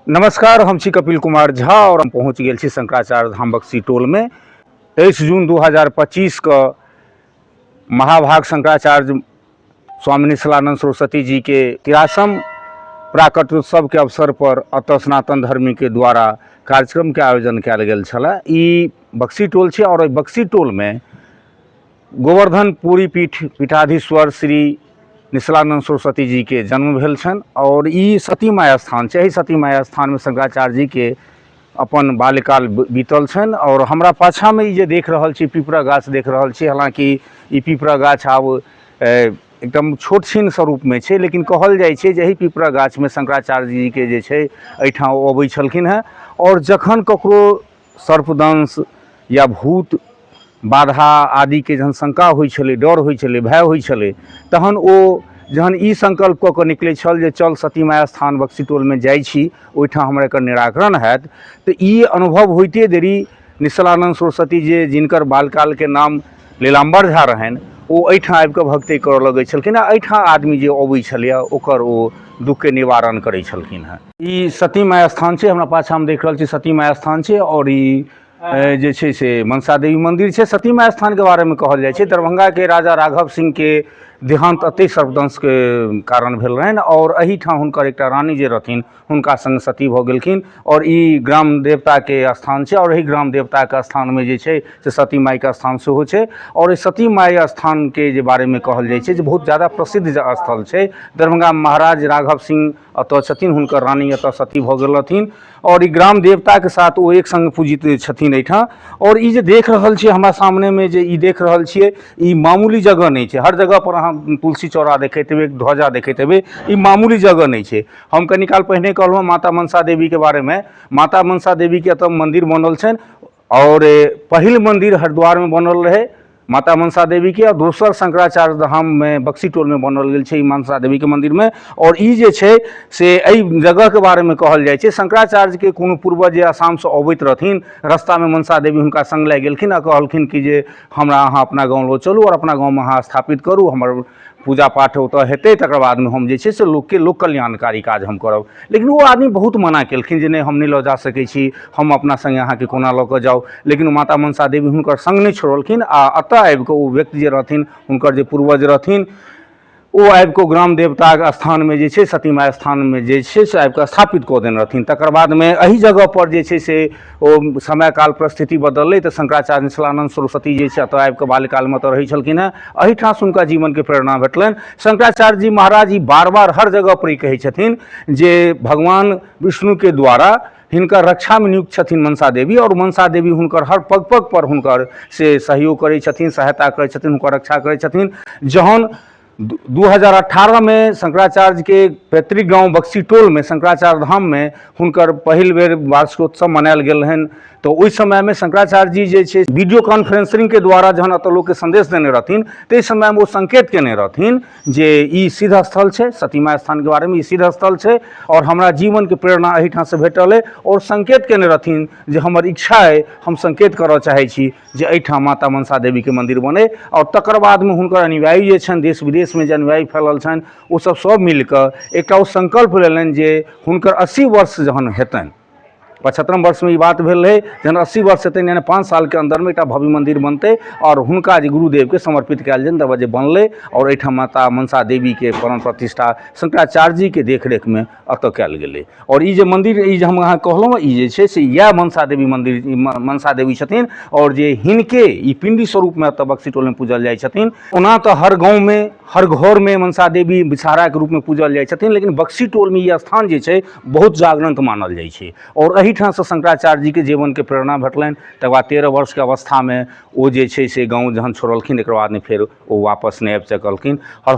नमस्कार हम छी कपिल कुमार झा और हम पहुंच गेल छी शंकराचार्य धाम बक्सी टोल में तेईस जून 2025 के महाभाग शंकराचार्य स्वामी निशलानंद सरस्वती जी के तिरासम प्राकट उत्सव के अवसर पर अत सनातन धर्मी के द्वारा कार्यक्रम के आयोजन कयल गेल छला ई बक्सी टोल छै और बक्सी टोल में गोवर्धन पूरी पीठ पीठाधीश्वर श्री निश्लानन्द सरस्वती जी के जन्म भेल छनि आओर ई सती माया स्थान छै एहि सती माया स्थानमे शंकराचार्य जी के अपन बाल्यकाल बीतल छनि आओर हमरा पाछाँमे ई जे देख रहल छी पिपरा गाछ देख रहल छी हालाँकि ई पिपरा गाछ आब एकदम छोट छीन स्वरूपमे छै लेकिन कहल जाइ छै जे एहि पिपरा गाछमे शंकराचार्य जीके जे छै एहिठाम ओ अबै छलखिन हेँ आओर जखन ककरो सर्पदंश या भूत बाधा आदिके जहन शंका होइ छलै डर होइ छलै भय होइ छलै तहन ओ जहन ई संकल्प कऽ कऽ निकलै छल जे चल सती माय स्थान बक्सी टोलमे जाइ छी ओहिठाम हमरा एकर निराकरण हैत तऽ ई अनुभव होइते देरी निश्चलानन्द सरस्वती जे जिनकर बालकालके नाम नीलाम्बर झा रहनि ओ एहिठाम आबि कऽ भक्ति करऽ लगै छलखिन आ एहिठाम आदमी जे अबै छलैए ओकर ओ दुःखके निवारण करै छलखिन हेँ ई सती माय स्थान छै हमरा पाछाँमे देख रहल छी सती माय स्थान छै आओर ई ए, जे छै से मनसा देवी मन्दिर छै सती माय स्थानके बारेमे कहल जाइ छै दरभंगाके राजा राघव सिंहके देहान्त एतहि सर्पदंशके कारण भेल रहनि आओर एहिठाम हुनकर एकटा रानी जे रहथिन हुनका सङ्ग सती भऽ गेलखिन आओर ई ग्राम देवताके स्थान छै आओर एहि ग्राम देवताके स्थानमे जे छै से सती माइके स्थान सेहो छै आओर एहि सती माइ स्थानके जे बारेमे कहल जाइ छै जे बहुत जादा प्रसिद्ध जे स्थल छै दरभंगा महाराज राघव सिंह एतऽ छथिन हुनकर रानी एतऽ सती भऽ गेल रहथिन आओर ई ग्राम देवताके साथ ओ एक सङ्ग पूजित छथिन एहिठाम आओर ई जे देख रहल छियै हमरा सामनेमे जे ई देख रहल छियै ई मामूली जगह नहि छै हर जगहपर अहाँ तुलसी चौरा देखैत हेबै ध्वजा देखैत हेबै ई मामूली जगह नहि छै हम कनी काल पहिने कहलहुँ हँ माता मनसा देवीके बारेमे माता मनसा देवीके एतऽ मन्दिर बनल छनि आओर पहिल मन्दिर हरिद्वारमे बनल रहै माता मनसा देवीके आओर दोसर शंकराचार्य धाममे बक्सी टोलमे बनल गेल छै ई मनसा देवीके मन्दिरमे आओर ई जे छै से एहि जगहके बारेमे कहल जाइ छै शंकराचार्यके कोनो पूर्वज जे आसामसँ अबैत रहथिन रस्तामे मनसा देवी हुनका सङ्ग लागि गेलखिन आओर कहलखिन कि जे हमरा अहाँ अपना गाँव लऽ चलू आओर अपना गाँवमे अहाँ स्थापित करू हमर पूजा पाठ ओतऽ हेतै तकर बादमे हम जे छै से लोकके लोक कल्याणकारी काज हम करब लेकिन ओ आदमी बहुत मना केलखिन जे नहि हम नहि लऽ जा सकै छी हम अपना सङ्गे अहाँके कोना लऽ कऽ जाउ लेकिन माता मनसा देवी हुनकर सङ्ग नहि छोड़लखिन आ एतऽ आबि कऽ ओ व्यक्ति जे रहथिन हुनकर जे पूर्वज रहथिन ओ आबि कऽ ग्राम देवताक स्थानमे जे छै सतीमा स्थानमे जे छै से आबि कऽ स्थापित कऽ देने रहथिन तकर बादमे एहि जगहपर जे छै से ओ समय काल परिस्थिति बदललै तऽ शंकराचार्य निश्चलानंद सरस्वती जे छै एतऽ आबि कऽ बाल्यकालमे एतऽ रहै छलखिन हेँ एहिठाम से हुनका जीवनके प्रेरणा भेटलनि शंकराचार्य जी महाराज ई बार बार हर जगह पर ई कहै छथिन जे भगवान विष्णुके द्वारा हिनकर रक्षामे नियुक्त छथिन मनसा देवी आओर मनसा देवी हुनकर हर पग पग पर हुनकर से सहयोग करै छथिन सहायता करै छथिन हुनकर रक्षा करै छथिन जहन दू हजार अठारहमे शंकराचार्यके पैतृक गाँव बक्सी टोलमे शंकराचार्य धाममे हुनकर पहिल बेर वार्षिकोत्सव मनायल गेल रहनि तऽ ओहि समयमे शंकराचार्य जी जे छै वीडियो कॉन्फ्रेंसिंगके द्वारा जहन एतऽ लोकके संदेश देने रहथिन ताहि समयमे ओ संकेत केने रहथिन जे ई सिद्ध स्थल छै सतीमा स्थानके बारेमे ई सिद्ध स्थल छै आओर हमरा जीवनके प्रेरणा एहिठामसँ भेटल अइ आओर संकेत केने रहथिन जे हमर इच्छा अइ हम संकेत करऽ चाहै छी जे एहिठाम माता मनसा देवीके मन्दिर बनै आओर तकर बादमे हुनकर अनुयायी जे छनि देश विदेशमे जे अनुयायी फैलल छनि ओ सब सब मिलकऽ एकटा ओ सङ्कल्प लेलनि जे हुनकर अस्सी वर्ष जहन हेतनि पचहत्तरम वर्षमे ई बात भेल रहै जहन अस्सी वर्ष हेतनि यानि पाँच सालके अन्दरमे एकटा भव्य मन्दिर बनतै आओर हुनका जे गुरुदेवके समर्पित कयल जेतनि तकर बाद जे बनलै आओर एहिठाम माता मनसा देवीके प्राण प्रतिष्ठा शंकराचार्य जीके देखरेखमे एतय कयल गेलै आओर ई जे मन्दिर ई जे हम अहाँके कहलहुँ हेँ ई जे छै से इएह मनसा देवी मन्दिर ई म मनसा देवी छथिन आओर जे हिनके ई पिण्डी स्वरूपमे एतय बक्सि टोलमे पूजल जाइ छथिन ओना तऽ हर गाँवमे हर घरमे मनसा देवी विषहाराके रूपमे पूजल जाइ छथिन लेकिन बक्सी टोलमे ई स्थान जे छै बहुत जागरंक मानल जाइ छै आओर एहिठामसँ शंकराचार्य जीके जीवनके प्रेरणा भेटलनि तकर बाद तेरह वर्षके अवस्थामे ओ जे छै से गाँव जहन छोड़लखिन तकर बाद नहि फेर ओ वापस नहि आबि सकलखिन आओर